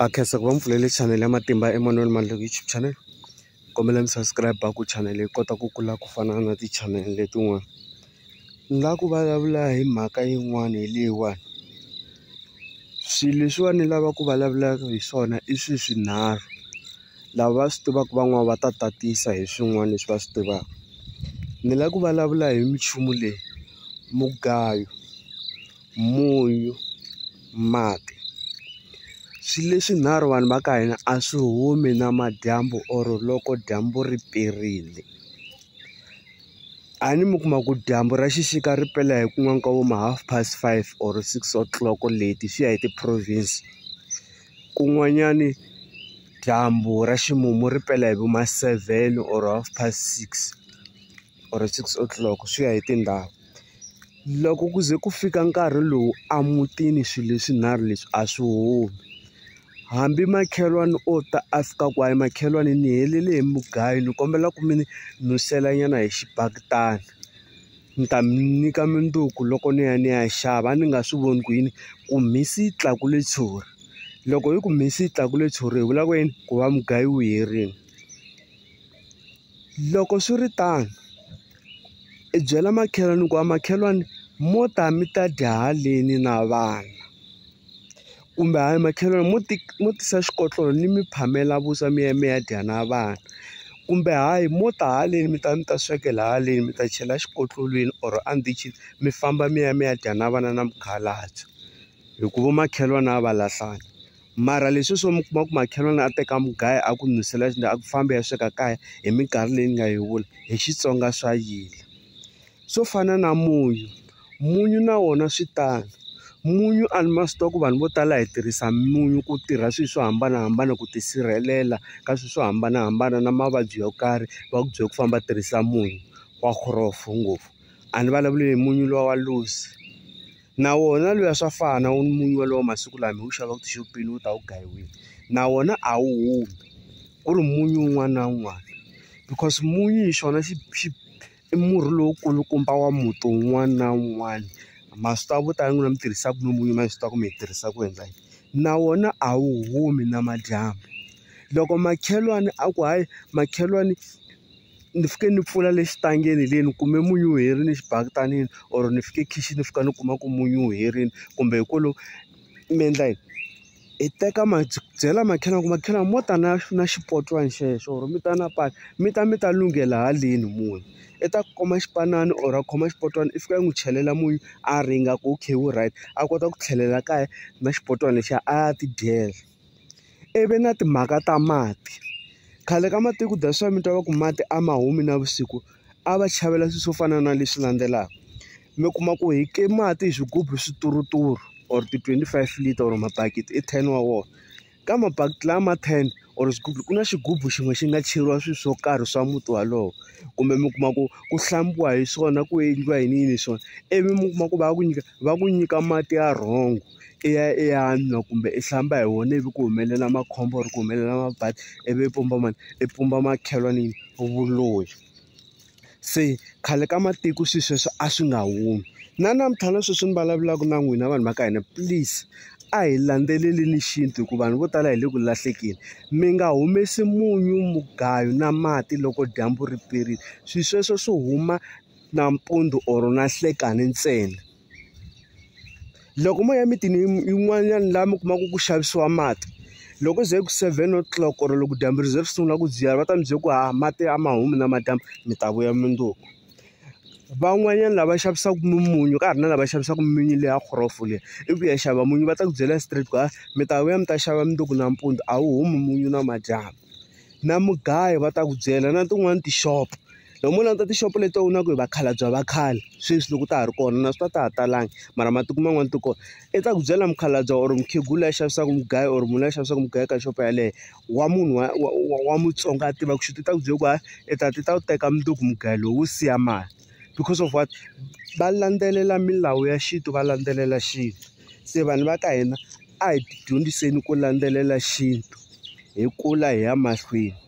a khensa ku va mi pfulele chanele ya matimba emanoni ma YouTube channel kombela mi subscribe ku chanele yi kota ku kula ku fana na ti-channel letin'wana ni la ku vulavula hi mhaka yin'wana hi leyiwani swilo leswiwani ni lava ku vulavulaka hi swona i swi swinharhu lava va swi tivaka van'wani va ta tatisa hi swin'wana leswi va swi tivaka ni la ku vulavula hi minchumu leyi mugayo. munyu, mati swi leswinharhu vanhu va ka hina a swi humi na madyambu or loko dyambu ri perile a ni mi kuma ku dyambu ra xixika ri pela hi ku n'wana ka vo ma half past five or six o'clock leti swi ya hi ti-province kun'wanyani dyambu ra ximumu ri pela hi vo ma seven or half past six. or six o'clock swi ya hi tindhawu loko ku ze ku fika nkarhi lowu a mutini swilo leswinharhu leswi a swi humi hambi makhelwani o ta a fika ku a yi makhelwani ni helele hi mugayo ni kombela ku mi ni nusela nyana hi xibaketani ni ta mi nyika mundzuku loko ni ya ni ya xava a ni nga swi voni ku yini ku mhisi yi tlakule tshuri loko yi ku mhisi yi tlakule tshuri hi vula ku yini ku va mugayo wu herini. Loko swi ri tano, i byela makhelwani ku a makhelwani mo ta mi ta dya haleni na vana kumbe hayi makhelwani mo ti mo tisa xikotlolo ni mi phamela vuswa mi ya mi ya dya na vana kumbe hayi mo ta haleni mi ta mi ta swekela haleni mi ta chela xikotlolweni or a ndichini mi famba mi ya mi ya dya na vana na mukhalabye hikuva makhelwani a va lahlani. Mara leswi swo mi kuma ku makhelwani a teka mugayo a ku n'wisela a ku fambi ya sweka kaya hi minkarhi leyi ni nga yi vula hi Xitsonga swa yila swo fana na munyu munyu na wona swi tano munyu a ni ma swi tiva ku vanhu vo tala hi tirhisa munyu ku tirha swilo swo hambanahambana ku tisirhelela ka swilo swo hambanahambana na mavabyi yo karhi va ku byela ku famba tirhisa munyu wa ngopfu a ni vulavuli hi munyu luwa wa loose na wona luya swa fana wu munyu wolowo masiku lama hi wu xavaka tixopeni wu ta wu gayiwile na wona a wu humi ku ri munyu un'wana na un'wana because munyu hi xona xi xi i murhi lowu kulukumba wa muti wun'wana na wun'wana ma swi tiva vo tala n'wina mi tirhisaka munyu mi swi tiva ku mi yi tirhisa ku endla yini na wona a wu humi namadyambu loko makhelwani a ku hayi makhelwani. ni fike ni pfula le xitangeni le ni kume munyu wu herile xibaketanini or ni fike khixini ni fika ni kuma ku munyu wu herile kumbe hi ku lo mi endla yini hi teka ma byela makhelwani ku makhelwani mo ta na na xipotwana xexo or mi ta na pani mi ta mi ta lunghela haleni munyu i ta kuma xipanani or a khoma xipotwana i fika i n'wi chelela munyu a ringa ku okay wu right a kota ku tlhelela kaya na xipotwana lexiya a ya tidyela. ivi na timhaka ta mati khale ka matiko ku dya swa mi twa va ku mati a ma humi navusiku a va chavela swilo swo fana na leswi landzelaka mi kuma ku hi ke mati hi swigubu swi turuturu or ti twenty five liter or mabakiti i ten wa wona ka mabakiti lama ten or swigubu ku na xigubu xin'we xi nga cheriwa swilo swo karhi swa muti wolowo kumbe mi kuma ku ku hlambiwa hi swona ku endliwa yini yini hi swona ivi mi kuma ku va ku nyika va ku nyika mati ya wrong. i ya i ya nwa kumbe i hlamba hi wona ivi ku humelela makhombo or ku humelela mabadi ivi i pumba mani i pumba makhelwani vuloyi se khale ka matiko swilo sweswo a swi nga humi na namuntlha na sweswi ni vulavulaka na n'wina vanhu va ka hina please a hi landzelelini xintu hikuva vanhu vo tala hi le ku lahlekeni mi nga humesi munyu mugayo na mati loko dyambu ri perile swilo sweswo swo huma nampundzu or na nhlekani ntsena. loko mo ya emitini yin'wanyana laha mi kumaka ku xavisiwa mati loko ze ku seven o'clock or loko dyambu ri ze ri sungula ku dziya va ta mi byela ku haha mati a ma humi namadyambu mi ta vuya mundzuku van'wanyana lava xavisaka mimunyu ka ha ri na lava xavisaka mimunyu leya gorofu leyi i ku ya xava munyu va ta ku byela straight ku hayi mi ta vuya mi ta xava mundzuku nampundzu a wu humi munyu namadyambu na mugayo va ta ku byela na tin'wani tixopo. loko mo languta tixopo leti u na ku hi vakhalabya va khale sweswi loko ta ha ri kona na swi ta ta ha talanga mara matiko man'wana ti kona i ta ku byela mukhalabya or mukhegula ya xavisaka mugayo or munhu la xavisaka mugayo ka xopo yaleyo wa munhu wa wa wa wa mutsonga a tiva ku xi ti ta ku byela ku hayi i ta ti ta wu teka mundzuku mugayo lowu siya mali because of what va landzelela milawu ya xintu va landzelela xintu se vanhu va ka hina a hi tidyondziseni ku landzelela xintu hi kula hi ya mahlweni.